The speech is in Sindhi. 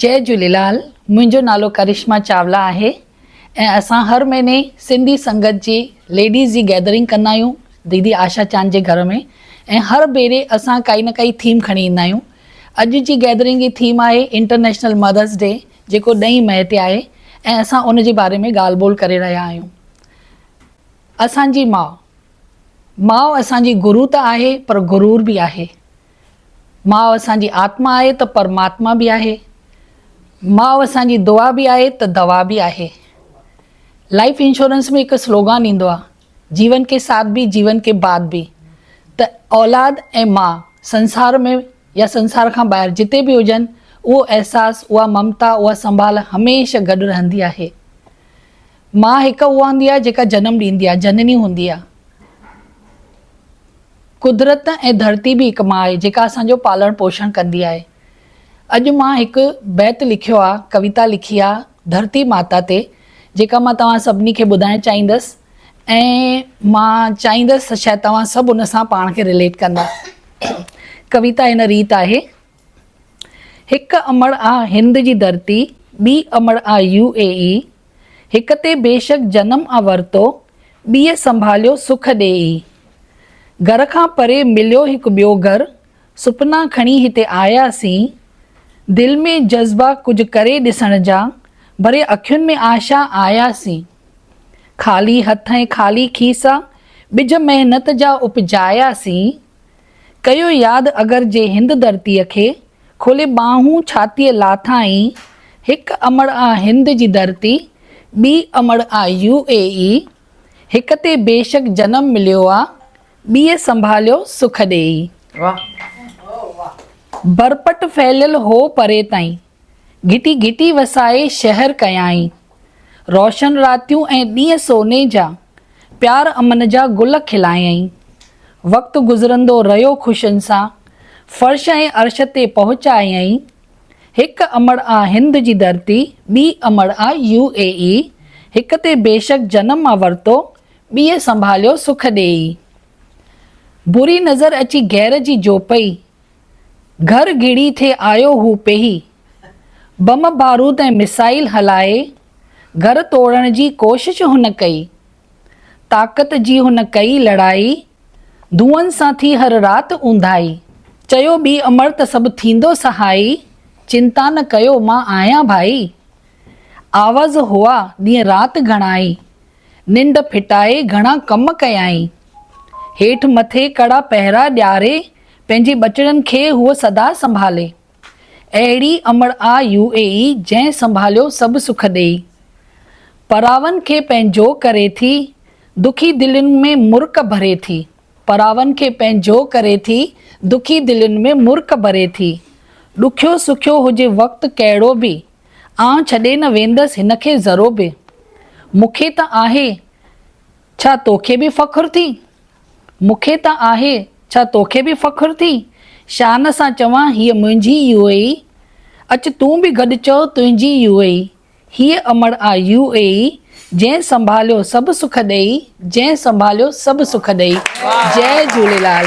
جئي جهوليلال منهنجو نالو ڪرشما چاولا آهي ۽ اسان هر مهيني سنڌي سنگت جي ليڊيز جي گيدرنگ ڪندا آهيون ديدي آشا چاند جي گهر ۾ ۽ هر ڀيري اسان ڪائي نه ڪائي ٿيم کڻي ايندا آهيون اڄ جي گيدرنگ جي ٿيم آهي انٽرنيشنل مدرس ڊي جيڪو ڏهين مئي تي آهي ۽ اسان ان جي باري ۾ ڳالهه ٻولهه ڪري رهيا آهيون اسان جي ماء ماء اسان جي گرو ته آهي پر غرور به آهي ماء اسان جي آتما آهي ته پرماتما به آهي. ماء اسان جي دعا به آهي ته دوا به آهي. لائيف انشورنس ۾ هڪ سلوگان ايندو آهي، جيون ڪي ساٿ ڀي جيون ڪي بعد ڀي ته اولاد ۽ ماء سنسار ۾ يا سنسار کان ٻاهر جتي به هجن اهو احساس اها ممتا اها سنڀال هميشه گڏ رهندي آهي. ماء هڪ اها هوندي آهي جيڪا جنم ڏيندي آهي، جنني هوندي آهي. قدرت ۽ ڌرتي به هڪ ماء آهي جيڪا اسان جو پالڻ پوشڻ ڪندي آهي. اڄ مان هڪ بيت لکيو آهي، ڪويتا لکي آهي ڌرتي ماتا تي جيڪا مان توهان سڀني کي ٻڌائڻ چاهيندس ۽ مان چاهيندس ته شايد توهان سڀ ان سان پاڻ کي رليٽ ڪندا. ڪويتا هن ريت آهي. هڪ امڙ آ هند جي ڌرتي، ٻي امڙ آ يو اي اي، هڪ تي بيشڪ جنم آ ورتو، ٻيء سنڀاليو سک ڏي اي. گهر کان پري مليو هڪ ٻيو گهر، سپنا کڻي هتي آيا سين، دل ۾ جذبا ڪجهه ڪري ڏسڻ جا، ڀري اکين ۾ آشا آيا سين. خالي هٿ ۽ خالي کيسا، ٻج محنت جا اپجايا سين. ڪيو ياد اگر جي هند ڌرتيء کي، کولي ٻانهون ڇاتيء لاٿائين، هڪ امڙ آ هند جي ڌرتي، ٻي امڙ آ يو اي اي، هڪ تي بيشڪ جنم مليو آ، ٻيء سنڀاليو سک ڏيئي. برپٽ ڦهليل هو پري تائين، گهٽي گهٽي وسائي شهر ڪيائين. روشن راتيون ۽ ڏينهن سوني جا، پيار امن جا گل کلايائين. وقت گذرندو رهيو خوشين سان، فرش ۽ عرش تي پهچايائين. هڪ امڙ آ هند جي ڌرتي، ٻي امڙ آ يو اي اي، هڪ تي بيشڪ جنم آ ورتو، ٻيء سنڀاليو سک ڏيئي. بري نظر اچي غير جي جوپئي، گهر گهڙي ٿي آيو هو پيهي، بم بارود ۽ ميسائيل هلائي گهر ٽوڙڻ جي ڪوشش هن ڪئي. طاقت جي هن ڪئي لڙائي، ڌوئن سان ٿي هر رات اونداهي. چيو ٻي امڙ ته سڀ ٿيندو سهائي، چنتا نه ڪيو مان آهيان ڀائي. آوز هئا ڏينهن رات گهڻائي، ننڊ ڦٽائي گهڻا ڪم ڪيائين. هيٺ مٿي ڪڙا پهرا ڏياري پنهنجي ٻچڙن کي هوء سدا سنڀالي. اهڙي امڙ آ يو اي اي جنهن سنڀاليو سڀ سک ڏيئي. پراون کي پنهنجو ڪري ٿي، دکي دلين ۾ مرڪ ڀري ٿي. پراون کي پنهنجو ڪري ٿي، دکي دلين ۾ مرڪ ڀري ٿي. ڏکيو سکيو هجي وقت ڪهڙو به، آئون ڇڏي نه ويندس هن کي ذرو به. مون کي ته آهي. ڇا توکي به فخر ٿي؟ مون کي ته آهي، ڇا توکي به فخر ٿي؟ شان سان چوان هيء منهنجي يو اي اي، اچ تون به گڏ چئو تنهنجي يو اي اي، هيء امڙ آ يو اي اي، جنهن سنڀاليو سڀ سک ڏيئي، جنهن سنڀاليو سڀ سک ڏيئي. جئي جهوليلال.